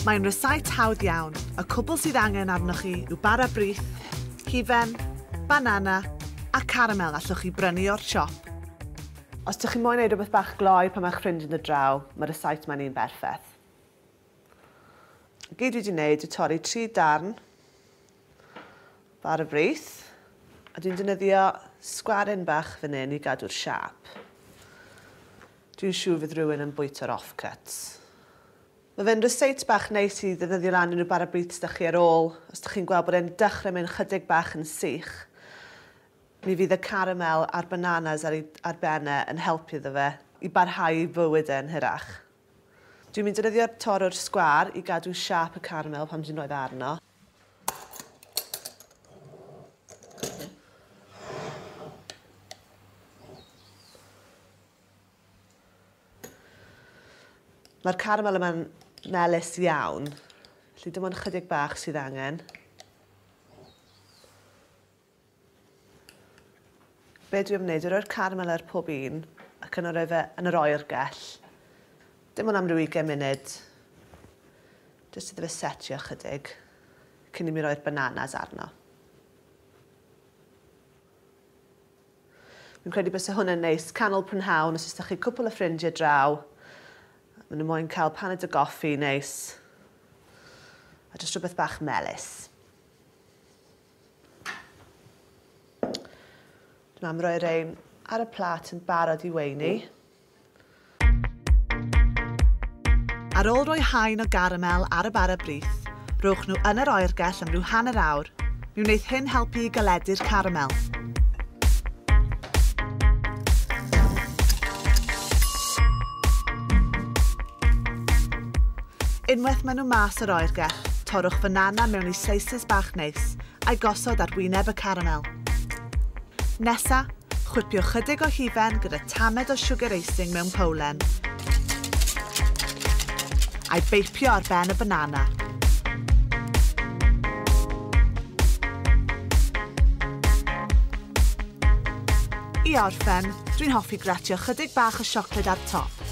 Mae'n rysáit hawdd iawn, y cwbl sydd angen arnoch chi yw bara brith, hufen, banana a caramel allwch chi brynu o'r siop. Os dych chi moyn ei rhywbeth bach gloi pan mae'ch ffrind yn dod draw, mae'r rysáit mae'n un berffeth. Gyd dwi wedi wneud yw torri tri darn Bar y frith. A dwi'n defnyddio sgwaryn bach fan hyn i gadw'r siâp. Dwi'n siŵr fydd rhywun yn bwyta'r offcuts. Mae fe'n ryseit bach neis i ddefnyddio lan unrhyw bar y brith sydd 'da chi ar ôl. Os dych chi'n gweld bod e'n dechrau mynd chydig bach yn sych, mi fydd y caramel a'r bananas ar, ar ben e yn helpu iddo fe i barhau i fywyd e'n hirach. Dwi'n mynd defnyddio'r torrwr sgwar i gadw siâp y caramel pan dwi'n rhoi fe arno. Mae'r caramel yma'n melus iawn. Felly dim ond chydig bach sydd angen. Be dwi am wneud? I roi'r caramel ar pob un ac yna roi fe yn yr oergell. Dim ond am ryw 20 munud. Jyst iddo fe setio chydig cyn i mi roi'r bananas arno. Fi'n credu bod hwn yn neis canol prynhawn os ydych chi cwpl o ffrindiau draw. Maen nhw moyn cael paned o goffi neis. A jyst rhywbeth bach melus. Nawr am roi'r ein ar y plat yn barod i weini. Ar ôl rhoi haen o garamel ar y bara brith, rhowch nhw yn yr oergell am ryw hanner awr. Mi wneith hyn helpu i galedu'r caramel. Unwaith maen nhw mas o'r oergell, torrwch fanana mewn i slices bach neis, a'i gosod ar wyneb y caramel. Nesa, chwipio chydig o hufen gyda tamed o siwgr eising mewn powlen, a'i beipio ar ben y fanana. I orffen, dwi'n hoffi gratio chydig bach o siocled ar top.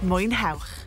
Mwynhewch!